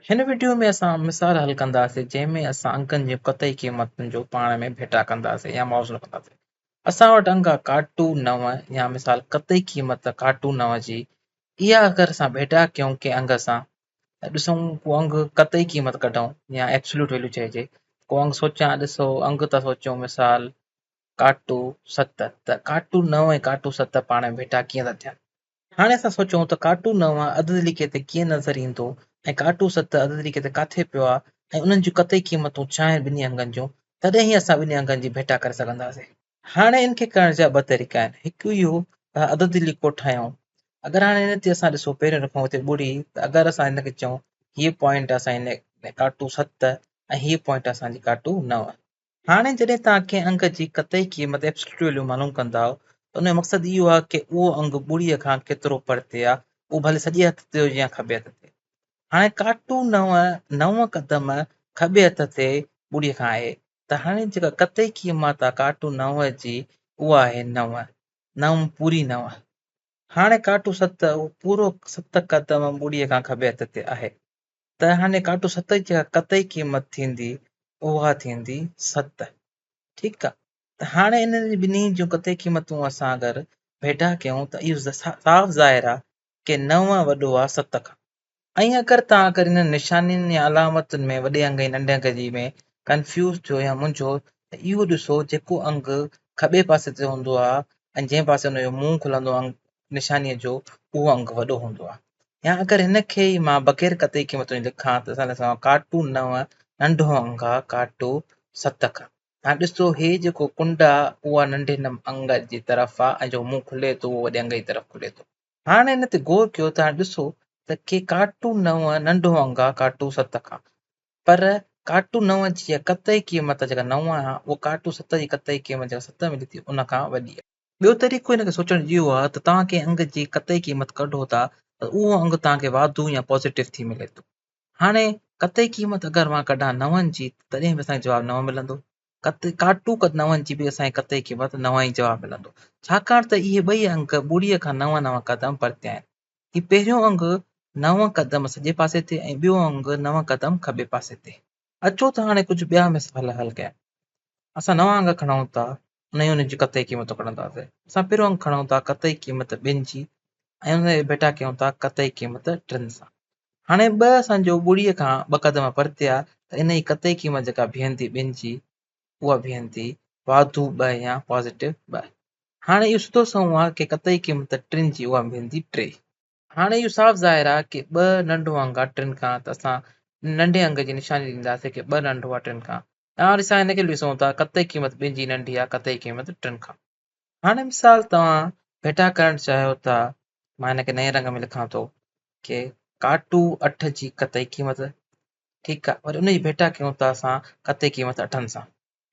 هن وڊيو ۾ اسان مثال حل ڪنداسين جنهن ۾ اسان انگن جون قطعي قيمتن جو پاڻ ۾ ڀيٽا ڪنداسين يا موازنو ڪنداسين. اسان وٽ انگ آ ڪاٽو نو يا مثال قطعي قيمت ڪاٽو نو جي اها اگر اسان ڀيٽا ڪيون ڪنهن انگ سان ته ڏسون ڪو انگ قطعي قيمت ڪڍون يا ايبسوليوٽ ويليو چئجي ڪو انگ سوچان ڏسو انگ ته سوچيون مثال ڪاٽو ست ته ڪاٽو نو ۽ ڪاٽو ست پاڻ ۾ ڀيٽا ڪيئن ٿا ٿين هاڻي اسان سوچون ته ڪاٽو نو عددي ليکي تي ڪيئن نظر ايندو ۽ ڪاٽو ست عددي ليکي تي ڪاٿي پيو آهي ۽ انهن جون قطعي قيمتون ڇا آهن ٻنهي انگن جون، تڏهن ئي اسان ٻنهي انگن جي ڀيٽا ڪري سگهنداسين. هاڻي ان کي ڪرڻ جا ٻه طريقا آهن، هڪ اهو ته اها عددي ليڪو ٺاهيون. اگر هاڻي هن تي اسان ڏسو پهريون رکون هتي ٻڙي ته اگر اسان هن کي چئون هيء پوائنٽ آهي اسان جي ڪاٽو ست ۽ هيء پوائنٽ آهي اسان جي ڪاٽو نو. هاڻي جڏهن توهان ڪنهن انگ جي قطعي قيمت، Absolute Value، معلوم ڪندائو ته ان جو مقصد اهو آهي ڪي اهو انگ ٻڙيء کان ڪيترو پرتي آهي، اهو ڀلي سڄي هٿ تي هجي يا کٻي هٿ تي. هاڻي ڪاٽو نو نو قدم کٻي هٿ تي ٻڙيء کان آهي ته هاڻي جيڪا قطعي قيمت آهي ڪاٽو نو جي اها آهي نو، نو پوري نو. هاڻي ڪاٽو ست اهو پورو ست قدم ٻڙيء کان کٻي هٿ تي آهي. ته هاڻي ڪاٽو ست جي جيڪا قطعي قيمت ٿيندي اها ٿيندي ست ٺيڪ آ ته هاڻي انهن جي ٻنهي جون قطعي قيمتون اسان اگر ڀيٽا ڪيون ته اهو صاف ظاهر آ ڪي نو وڏو آ ست کان ۽ اگر توهان اگر انهن نشانين يا علامتن ۾ وڏي انگ ۽ ننڍي انگ جي ۾ ڪنفيوز ٿيو يا منجهو ته اهو ڏسو جيڪو انگ کٻي پاسي تي هوندو آ ۽ جنهن پاسي ان جو منهن کلندو نشانيء جو اهو انگ وڏو هوندو آهي يا اگر هن کي ئي مان بغير قطعي قيمت جي لکان ته سندس چوان ڪاٽو نو ننڍو انگ آهي ڪاٽو ست کان هاڻي ڏسو هي جيڪو ڪنڊ آهي اها ننڍي انگ جي طرف آهي ۽ جيڪو منهن کلي ٿو اهو وڏي انگ جي طرف کلي ٿو هاڻي ان تي غور ڪيو ته هاڻي ڏسو ته ڪي ڪاٽو نو ننڍو انگ آهي ڪاٽو ست کان پر ڪاٽو نو جي قطعي قيمت جيڪا نو آهي اها ڪاٽو ست جي قطعي قيمت جيڪا ست ملي ٿي ان کان وڏي آهي ٻيو طريقو هن کي سوچڻ اهو آهي ته توهان ڪنهن انگ جي قطعي قيمت ڪڍو ٿا ته اهو انگ توهان کي واڌو يا پازيٽو ٿي ملي ٿو هاڻي قطعي قيمت اگر مان ڪڍان نون جي تڏهن به اسان کي جواب نو ملندو قطعي ڪاٽو قد نون جي به اسان کي قطعي قيمت نو ئي جواب ملندو ڇاڪاڻ ته اهي ٻئي انگ ٻڙي کان نو نو قدم پرتي آهن هي پهريون انگ نو قدم سڄي پاسي تي ۽ ٻيو انگ نو قدم کٻي پاسي تي اچو ته هاڻي ڪجهه ٻيا مثال حل ڪيا اسان نو انگ کڻون ٿا نئين ان جي قطعي قيمتون ڪڍنداسين. اسان پھريون انگ کڻون ٿا قطعي قيمت ٻن جي ۽ ان کي ڀيٽا ڪيون ٿا قطعي قيمت ٽن سان. ھاڻي ٻه اسان جو ٻڙي کان ٻه قدم پرتي آ ته انھيء قطعي قيمت جيڪا بيھن ٿي ٻن جي اھا بيھن ٿي واڌو ٻه يا پازيٽو ٻه. ھاڻي اھو سڌو سنئون آ ڪي قطعي قيمت ٽن جي اھا بيھن ٿي ٽي. ھاڻي اھو صاف ظاھر آ ڪي ٻه ننڍو انگ آ ٽن کان ته اسان ننڍي انگ جي نشاني ڏينداسين ڪي ٻه ننڍو آ ٽن کان. اوهان ڏسان هن کي به ڏسون ٿا قطعي قيمت ٻن جي ننڍي آهي قطعي قيمت ٽن کان هاڻي مثال توهان ڀيٽا ڪرڻ چاهيو ٿا مان هن کي نئين رنگ ۾ لکان ٿو ڪي ڪاٽو اٺ جي قطعي قيمت ٺيڪ آهي وري ان جي ڀيٽا ڪيون ٿا اسان قطعي قيمت اٺن سان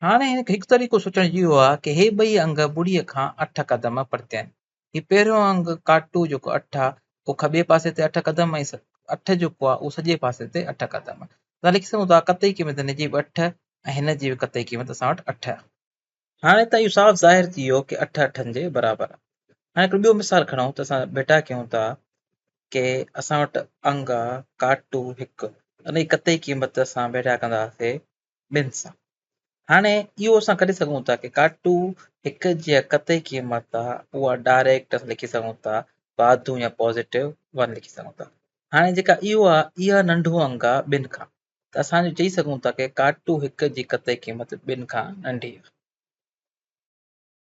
هاڻي هن کي هڪ طريقو سوچڻ اهو آهي ڪي هي ٻئي انگ ٻڙي کان اٺ قدم پرتي آهن هي پهريون انگ ڪاٽو جيڪو اٺ آ اهو کٻي پاسي تي اٺ قدم ۽ اٺ جيڪو آ اهو سڄي پاسي تي اٺ قدم آ ته لکي سگهون ٿا قطعي قيمت هن جي به اٺ ۽ هن جي به قطعي قيمت اسان وٽ اٺ آ هاڻي ته اهو صاف ظاهر ٿي ويو ڪي اٺ اٺن جي برابر آ هاڻي هڪڙو ٻيو مثال کڻون ته اسان ڀيٽا ڪيون ٿا ڪي اسان وٽ انگ آ ڪاٽو هڪ انهي قطعي قيمت اسان ڀيٽا ڪنداسي ٻين سان. هاڻي اهو اسان ڪڍي سگهون ٿا ته ڪاٽو هڪ جي قطعي قيمت آ اها ڊائريڪٽ اسان لکي سگهون ٿا واڌو يا پازيٽو ون لکي سگهون ٿا. هاڻي جيڪا اهو آ اها ننڍو انگ آ ٻن کان ته اسان جو چئي سگهون ٿا ته ڪاٽو هڪ جي قطعي قيمت ٻن کان ننڍي آ.